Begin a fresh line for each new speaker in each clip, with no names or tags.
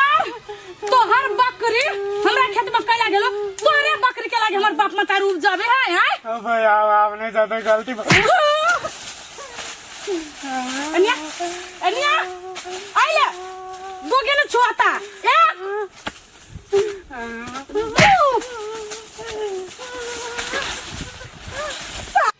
तोहर बकरी हमरा खेत में कैला गेलो तोहरे बकरी के लागे हमर बाप मतार उब जाबे है हैं अब यार आपने ज्यादा गलती अनिया अनिया आइले बोगे न छुआता ए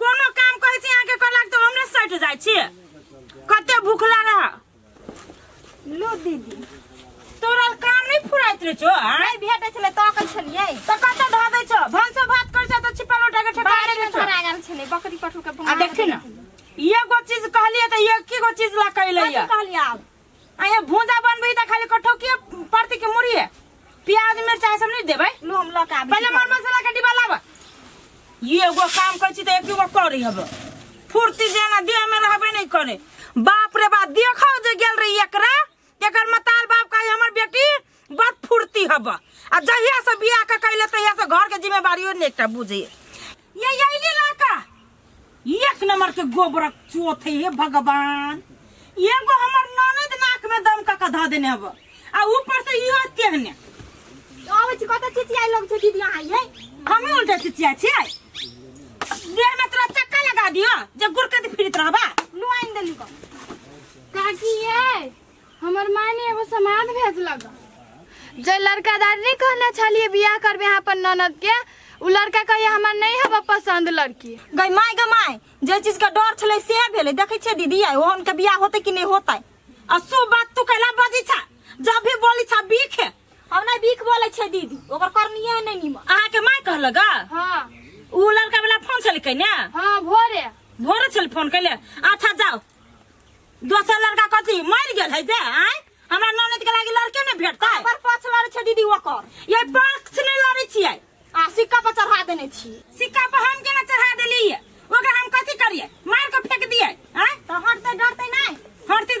कोनो काम कहै छी अहाँके कहलक तऽ हमरे सटि जाइ छी कते भूखला रह लो दीदी तोरा काम नहि फुराइत रहै छौ आँय? नहि भेटै छलै ताकै छलियै तऽ कतऽ धऽ दै छौ भनसो भात करै छौ तऽ छिपा लोटा के ठेका बाहरे दै में छौ धरा गेल छलै बकरी पठू के आ देखी ने एगो चीज कहलियै तऽ एक गो चीज ला कहले कथी कहलियै आब अहे भूजा बनबे त खाली कठो के परती के मुड़ी है प्याज मिर्चा ई सब नहीं देबे लो हम लऽ के आबै पहिले मर मसाला के डिब्बा लाबा ई एगो काम करै छी त एक गो करी हब फुर्ती जेना देह में रहबे नहीं करे बाप रे बाप देखो जे गेल रही एकरा एकर मताल बाप का हमर बेटी बड़ फुर्ती हब आ जहिया से बियाह के कैले तहिया से घर के जिम्मेवारियो ने एकटा बुझे ये ये ले लाका एक नंबर के गोबरक चोथ है हे भगवान एगो हमर ननद नाक में दम का कधा देने हब आ ऊपर से इहो तेहने आबै छी कतऽ चिचियाइ लग छै दीदी अहाँ यै हमें उल्टा चिचिया छियै देह में तोरा चक्का लगा दियो जे गुरकत फिरत रहबा नुआइन देली कऽ काकी यै हमर मायने एगो समाद भेजलक जे लड़का दादी नहीं कहने छलिए बियाह करबे यहाँ पर ननद के उ लड़का कहिए हमर नहीं हब पसंद लड़की गई माय गई माय जे चीज के डर छले से भेले देखे छे दीदी आई ओहन के बियाह होते कि नहीं होते आ सो बात तू कैला बजी छा जब भी बोली छा बीख है हम नहीं बीख बोले छे दीदी ओकर करनिए नहीं नीम अहा के माय कहल गा हाँ उ लड़का वाला फोन छलके ने हाँ भोरे भोरे छल फोन कैले अच्छा जाओ दोसर लड़का कथी मर गेल है ते आय हमरा ननद के लागी लड़के ने भेटता है पर पक्ष लड़े छै दीदी ओकर ये पक्ष ने लड़े छियै आ सिक्का पर चढ़ा देने छी सिक्का पर हम केना चढ़ा देलियै ओकरा हम कथी करियै मार के फेंक दियै आय तो हटते डरते नहीं हरती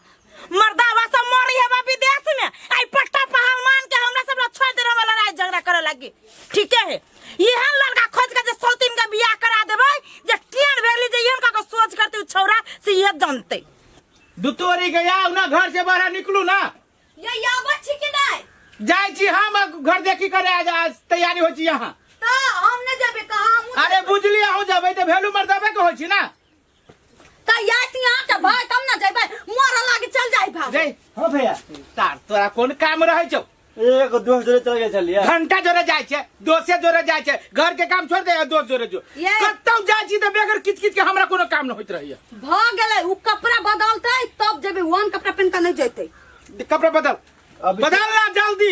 मर्दा बा सब मरी है बा विदेश में आई पट्टा पहलवान के हमरा सब लोग छोड़ दे रहा लड़ाई झगड़ा करे लगी ठीक है यह लड़का खोज के जे सौतीन का बियाह करा देबे जे टियन भेली जे यहन का को सोच करते उ छौरा से यह जानते दुतोरी गया ना घर से बाहर निकलू ना ये याबो छी कि नहीं जाय छी हम घर देखी करे आज आज तैयारी हो छी यहाँ तो हम न जबे कहा हम अरे बुझली हो जाबे तो भेलू मर्दाबे के हो छी ना कहिया ती अहाँ के भाई तब ना जइबै मोरा लागे चल जाई भाग जय हाँ भैया तार तोरा कोन काम रहै छौ एक दोस्त जोड़े चल गए चलिए घंटा जोरे जाइ छै दोसे जोरे जाइ छै घर के काम छोड़ दे दोस्त जोरे जो ये। कतौ जाइ छी तऽ बेगर किच किच के हमरा कोनो काम न होइत रहैया भ गेलै उ कपड़ा बदलतै तब जेबै वन कपड़ा पेन के नहीं जइतै कपड़ा बदल अभी- बदल ना जल्दी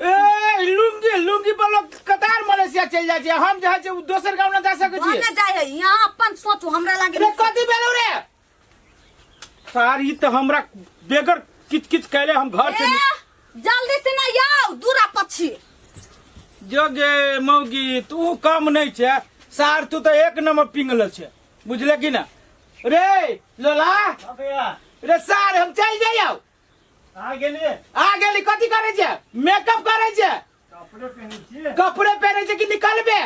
ए लुंगी लुंगी पर लोग कतार मलेशिया चल जाय छै हम जाय छै दोसर गांव ना जा सके छी बने जाय है यहाँ अपन सोचो हमरा लागे रे कथी भेलौ रे सार ई त हमरा बेगर किच किच कैले हम घर से ए, जल्दी से ना आओ दूरा पक्षी जोगे मौगी तू कम नहीं छे सार तू तो एक नंबर पिंगल छे बुझले कि ना रे लोला रे सार हम चल जाइयो आ गेलिए आ गेली कथी करे छे मेकअप करे छे कपड़े पहने छिए कपड़े पहने छे कि निकलबे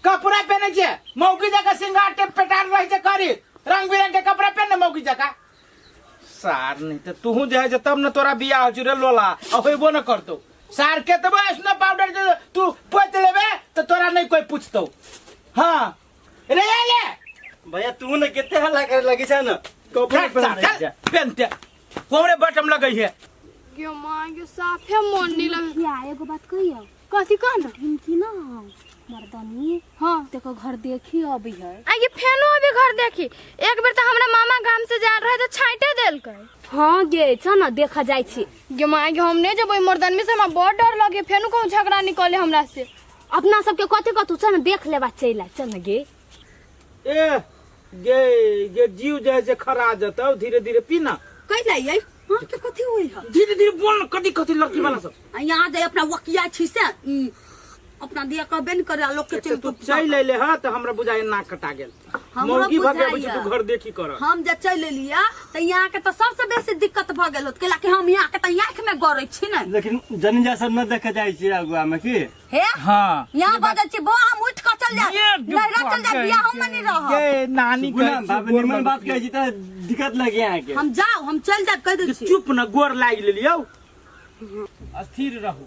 कपड़ा पहने छे मौकी जका सिंगार टेप पेटार रहे छे करी रंग बिरंग के कपड़ा पहने मौकी जका सार नहीं तो तू जे है जे तब न तोरा बियाह हो रे लोला आ होइबो न करतो सार के तब ऐसनो पाउडर जे तू पोत लेबे तो तोरा नहीं कोई पूछतो हाँ रे ले ले भैया तू ना कितने हल्ला करे लगी जा ना कपड़े चल, पहन चल, जा पेनते कोमरे बटम लगई है यो माँ यो साफे मन नहीं लगे क्या एगो बात कहियो कथी कहना ढिमकी ना हम मर्दनी हाँ तेको घर देखी अभी है आ ये फेनो अभी घर देखी एक बेर तो हमरा मामा गाम से जा रहे तो छाइटे देल कर हाँ गे चल ना देखा जाय छी ये माँ के हम नहीं जब मर्दन में से हमरा बहुत डर लगे फेनो कहूँ झगड़ा निकले हमरा से अपना सबके कथी कथू चल न देख लेबा चलि आ चल न गे ए गे गे जीव जाए जे खरा जतौ धीरे धीरे पीना कैला ये हां के कथी होई ह धीरे धीरे बोल न कथी कथी लड़की वाला सब आ यहाँ दे अपना वकिया छी से ई, अपना दिया कहबे न करे लोग के एक तऽ चल तू चलि अयले ह तऽ हमरा बुझाइए नाक कटा गेल हमरो मौगी भर के अबै छै बुझाइया। तू घर देखी कर हम जे चलि एलियै तऽ यहाँ के तऽ सबसे बेसी दिक्कत भऽ गेल होत कैलाकि हम यहाँ के तऽ आँखि में गड़ै छी ने लेकिन जनिजा सब न देखे जाइ छियै अगुआ में की हे हाँ यहाँ बजै छी बो हम उठि कऽ चल जाय ये नैहरा चल जाय बियाह हम नहीं रह ये नानी सुनू ना, कहै बाबा छै, निमन बात कहै छी तऽ दिक्कत लगे यहाँ के हम जाओ हम चल जाय कह दै छी चुप न गोर लागि लेलियौ स्थिर रहू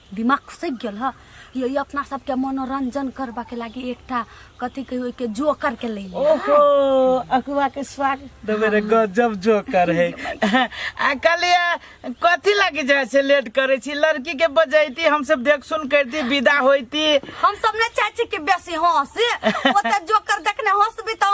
दिमाग से गेल ह ये ये अपना सबके मनोरंजन करबा के लागी एकटा कथी कहियो के जोकर के ले ओहो अकुआ के स्वागत तो मेरे गजब जोकर है आ कलिया कथी लागी जाए से लेट करे छी लड़की के बजैती हम सब देख सुन करती विदा होती हम सब ने चाची के बेसी हंस ओते जोकर देखने हंसबी त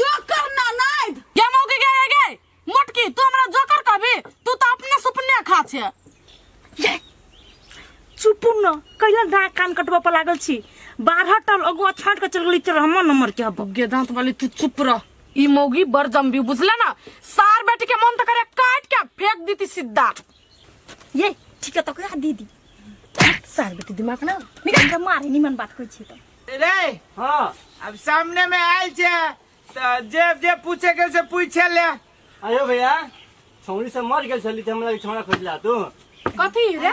जोकर ना नाइद ये मौके गे गे गे मोटकी तू हमरा जोकर कहबी तू तो अपने सुपने खा छे चुप न कैला ना कान कटबा पर लागल छी बारह टल अगुआ छाट के चल गेली चल हमर नंबर के हब गे दांत वाली तू चुप रह ई मौगी बर जम्बी बुझला ना सार बेटी के मन तो करे काट के फेंक दीती सीधा ये ठीक है तो कह दीदी सार बेटी दिमाग ना निकल के मारे निमन बात कोई छी तो रे हाँ अब सामने में आयल छे तो जे जे पूछे के से पूछे ले अरे भैया छौरी से मर गेल छली त हमरा लगे छौरा खोजला तू कथी रे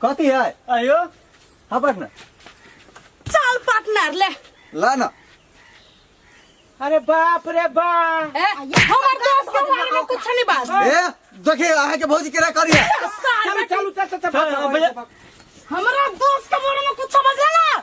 कथी है आयो हाँ पार्टनर चल पार्टनर ले ला ना अरे बाप रे बा हमार दोस्त के बारे में कुछ नहीं बात ए देखिए अहाँ के भौजी केरा करी है साल चलो में चलो चल चल चल, चल भैया हमरा दोस्त के बारे में कुछ समझ लेना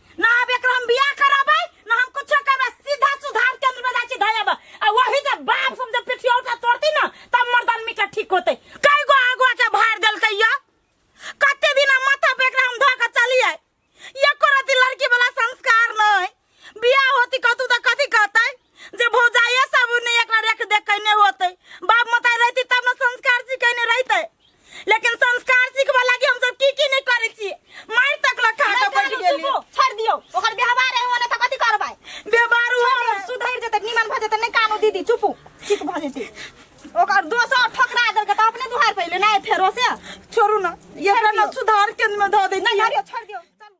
ना अब एकरा हम बियाह करबै ना हम कुछो करबै सीधा सुधार केंद्र में जाइ छी धयब आ वही जे बाप समझे पिठिया उठा तोड़ती ना तब मर्द आदमी के ठीक होते कई गो आगुआ के भार देलकै या कते दिना माथा पे एकरा हम धऽ के चलियै एको रति लड़की वाला संस्कार नै बियाह होती कहतू तऽ कथी कहतै जे भौजाइए सब ने एकरा रेख देख कैने होते बाप माता रहती तब ने संस्कार सिखेने रहते लेकिन संस्कार सिखबा लागी हम सब की की नहीं करे छी मार तक ला खा के बैठ गेली छोड़ दियो ओकर व्यवहार है ओने त कथि करबै व्यवहार हो सुधर जते निमन भ जते नै कानो दीदी चुपू ठीक भ जते ओकर दोसर ठोकरा दे के त अपने दुहार पहिले नै फेरो से छोड़ू ना ये अपना सुधार केंद्र में धो दे ना छोड़ दियो